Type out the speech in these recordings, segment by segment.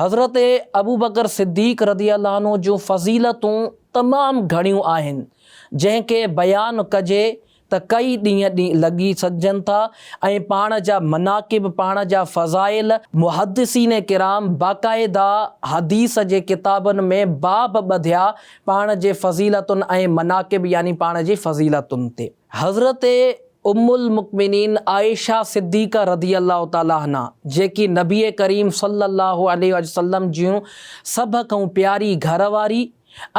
حضرت ابوبڪر صديق رضي الله عنه جون فضيلتون تمام گهڻيون آهن، جنهن کي بيان ڪجي ته ڪئي ڏينهن لڳي سگهجن ٿا ۽ پاڻ جا مناقب، پاڻ جا فضائل، محدثين ڪرام باقاعده حديث جي ڪتابن ۾ باب ٻڌيا پاڻ جي فضيلتن ۽ مناقب يعني پاڻ جي فضيلتن تي. حضرت ام المقمنين عائشه صديقه رضي الله تعالٰي عنها جيڪي نبي ڪريم صلي الله عليه واٰله وسلم جون سڀ کان پياري گهر واري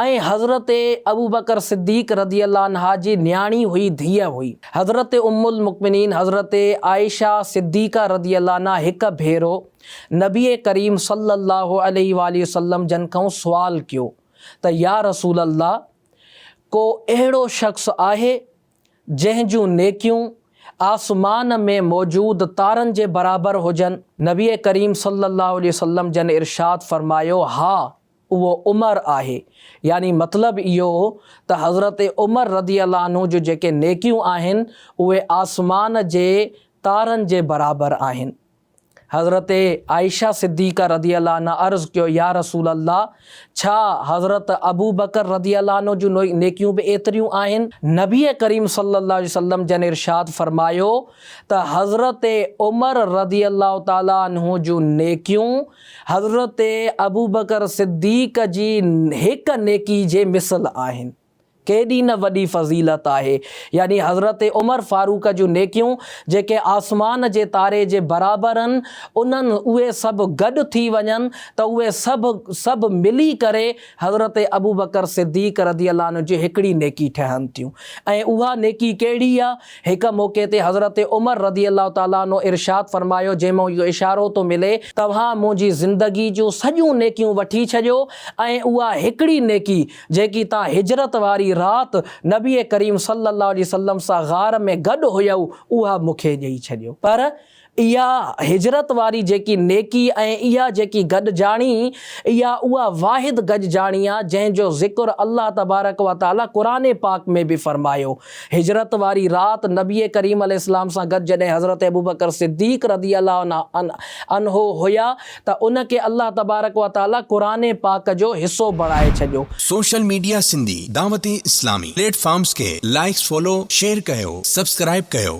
۽ حضرت ابوبڪر صديق رضي الله عنها جي نياڻي هئي ڌيء هئي. حضرت ام المقمنين حضرت عائشه صديقه رضي الله عنها هڪ ڀيرو نبي ڪريم صلي الله عليه واٰله وسلم جن کان سوال ڪيو ته يا رسول الله! ڪو اهڙو شخص آهي جنهن جون نيڪيون آسمان ۾ موجود تارن جي برابر هجن. نبي ڪريم صلي الله عليه وسلم جن ارشاد فرمايو، ها اهو عمر آهي يعني مطلب اهو ته حضرت عمر رضي الله عنه جون جيڪي نيڪيون آهن اهي آسمان جي تارن جي برابر آهن حضرت عائشه صديقه رضي الله عنها عرض ڪيو، يا رسول الله! ڇا حضرت ابوبڪر رضي الله عنه جون نيڪيون به ايتريون آهن؟ نبي ڪريم صلي الله عليه وسلم جن ارشاد فرمايو ته حضرت عمر رضي الله تعالٰي عنه جون نيڪيون حضرت ابوبڪر صديق جي هڪ نيڪي جي مثل آهن. ڪيڏي نه وڏي فضيلت آهي، يعني حضرت عمر فاروق جون نيڪيون جيڪي آسمان جي تاري جي برابر ان انهن اهي سڀ گڏ ٿي وڃن ته اهي سڀ سڀ ملي ڪري حضرت ابوبڪر صديق رضي الله عنه جي هڪڙي نيڪي ٺهن ٿيون ۽ اها نيڪي ڪهڙي آ؟ هڪ موقعي تي حضرت عمر رضي الله تعالٰي عنه ارشاد فرمايو جنهن مان اهو اشارو ٿو ملي، توهان منهنجي زندگي جون سڄيون نيڪيون وٺي ڇڏيو ۽ اها هڪڙي نيڪي جيڪي تان هجرت واري رات نبي ڪريم صلّي اللّٰه عليه وسلّم سان غار ۾ گڏ هيؤ اها مون کي ڏيئي ڇڏيو. پر اها هجرت واري جيڪي نيڪي ۽ اها جيڪي گڏجاڻي اها اها واحد گڏجاڻي آ جنهن جو ذڪر الله تبارڪ و تعالٰي قرآن پاڪ ۾ به فرمايو. هجرت واري رات نبي ڪريم عليه السلام سان گڏ جڏهن حضرت ابوبڪر صديق رضي الله عنه هيا ته ان کي الله تبارڪ و تعالي قرآن پاڪ جو حصو بڻائي ڇڏيو. Social media Sindhi Dawat Islami platforms کي لائيڪس فالو شيئر ڪيو سبسڪرائيب ڪيو.